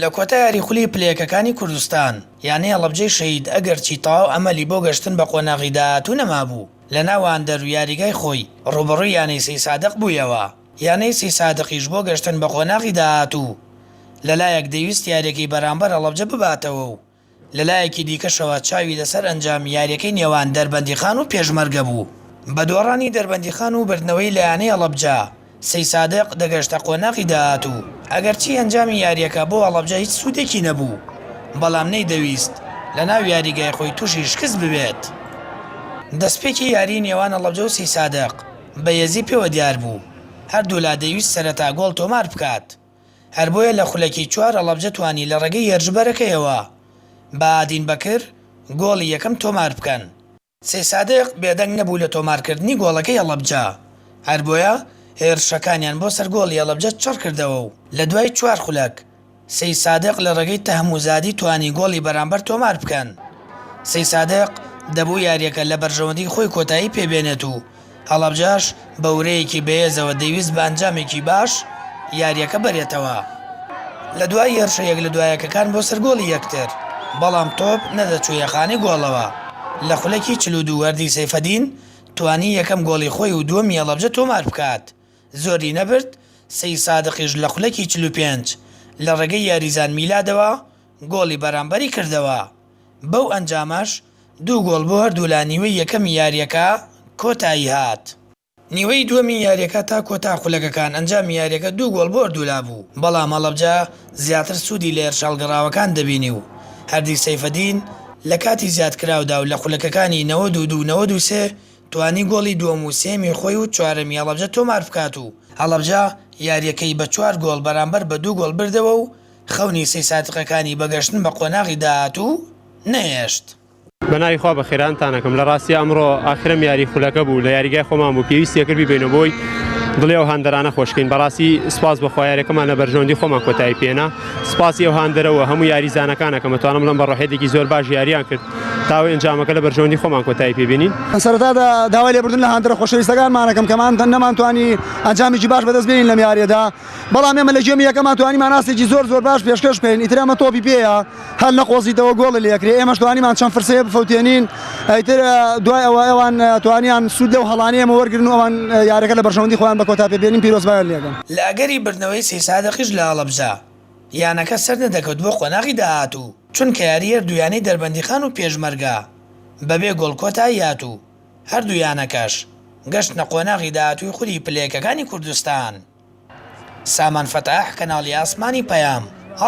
لە کۆتا یاری خولی پلە یەکەکانی کوردستان، یانەی هەڵەبجەی شەهید ئەگەرچی تەواو ئەمەلی بۆ گەشتن بە قۆناغی داهاتوو نەمابوو، لە ناوەندەر و یاریگای خۆی رووبەڕووی یانەی سەیسادق بوویەوە، یانەی سەیسادقیش بۆ گەشتن بە قۆناغی داهاتوو لەلایەک دەیوست یارییەکەی بەرامبەر هەڵەبجە بباتەوە و لەلایەکی دیکەشەوە چاوی لەسەر ئەنجامی یارییەکەی نێوان دەربەندیخان و پێشمەرگە بوو، بە دۆڕانی دەربەندیخان و بردنەوەی لە یانەی هەڵەبجە، سەیسادق دەگەشتە قۆناغی داهاتوو، ئەگەرچی ئەنجامی یارییەکە بۆ هەڵەبجە هیچ سوودێکی نەبوو، بەڵام نەیدەویست لەناو یاریگای خۆی تووشی شکست ببێت. دەستپێکی یاریی نێوان هەڵەبجە و سەیسادق بە هێزی پێوە دیار بوو، هەردوولا دەیویست سەرەتا گۆڵ تۆمار بکات، هەر بۆیە لە خولەکی چوار هەڵەبجە توانی لە ڕێگەی هێرشبەرەکەیەوە، بەهادین بەکر، گۆڵی یەکەم تۆمار بکەن. سەیسادق بێدەنگ نەبوو لە تۆمارکردنی گۆڵەکەی هەڵەبجە، هەر بۆیە هێرشەکانیان بۆ سەر گۆڵی هەڵەبجە چڕ کردەوە و لە دوای چوار خولەک، سەیسادق لە ڕێگەی تەهموزادی توانی گۆڵی بەرامبەر تۆمار بکەن. سەیسادق دەبوو یارییەکە لە بەرژەوەندیی خۆی کۆتایی پێ بێنێت و، هەڵەبجەش بە ورەیەکی بەهێزەوە دەیویست بە ئەنجامێکی باش یارییەکە بەرێتەوە لە دوای هێرشە یەک لە دوا یەکەکان بۆ سەر گۆڵی یەکتر، بەڵام تۆپ نەدەچوویە خانەی گۆڵەوە، لە خولەکی چل و دوو وەردی سەیفەدین توانی یەکەم گۆڵی خۆی و دووەمی هەڵەبجە تۆمار بکات، زۆری نەبرد سەی سادقیش لە خولەکی چل و پێنج لە ڕێگەی یاریزان میلادەوە گۆڵی بەرامبەری کردەوە. بەو ئەنجامەش دوو گۆڵ بۆ هەردوولا نیوەی یەکەمی یارییەکە کۆتایی هات. نیوەی دووەمی یارییەکە تا کۆتا خولەکەکان ئەنجامی یارییەکە دوو گۆڵ بۆ هەردوولا بوو، بەڵام هەڵەبجە زیاتر سوودی لە هێرشهەڵگەڕاوەکان دەبینی و هەردی سەیفەدین لە کاتی زیادکراودا و لە خولەکەکانی نەوەد و دوو و نەوەد و سێ توانی گۆڵی دووەم و سێیەمی خۆی و چوارەمی هەڵەبجە تۆماربکات و هەڵەبجە یارییەکەی بە چوار گۆڵ بەرامبەر بە دوو گۆڵ بردەوە و خەونی سەی سادقەکانی بە گەشتن بە قۆناغی داهاتوو نەهێشت. بە ناوی خوا بەخێرانتان ئەکەم لە ڕاستیا ئەمڕۆ ئاخرەم یاری خولەکە بوو لە یاریگای خۆمان بوو پێویستی ئەکرد بیبەینە بۆی دڵی ئەو هاندەرانە خۆشکەین بەڕاستی سوپاس بەخوا یارەکەمان لە بەرژەوەندی خۆمان کۆتایی پێنا سوپاسی ئەو هاندەرە و هەموو یاریزانەکان ئەکەم ئەتوانم بڵێم بە ڕۆحیەتێکی زۆر باش یاریان کرد تاوەی ئەنجامەکە لە بەرژەوەندی خۆمان کۆتایی پێ بینین. لە سەرەتادا داوای لێبوردن لە هاندەرە خۆشەویستەکانمان ئەکەم کە مانتەن نەمانتوانی ئەنجامێکی باش بەدەست بێنین لەم یاریەدا بەڵام ئێمە لە گێمی یەکەما توانیمان ئاستێکی زۆر زۆر باش پێشکەش بکەین ئیتر ئەمە تۆپی پێیە هەر نەقۆزیتەوە گۆڵی لەکرێ ئێمەش توانیمان چەند فرسەیە بفەوتێنین ئیتر دوای ئەوە ئەوان توانیان سوود لەو هەڵانەیە ئێمە وەرگن و ئەوان یاریەکە لە بەرژەوەندی خۆیان بە کۆتا پێبێنین پیرۆزبایان لێ دەکەم. لە ئەگەری بردنەوەی سێ سادقیش لە هەڵەبجە، یانەکە سەرنەدەکەوت بۆ قۆناغی داهاتوو، چونکە یاریی هەردوو یانەی دەربەندیخان و پێشمەرگە بەبێ گۆڵ کۆتایی هاتوو. هەردوو یانەکەش گەشتنە قۆناغی داهاتووی خولی پلەیەکەکانی کوردستان. سامان فەتاح، کەناڵی ئاسمانی پەیام، هەڵ.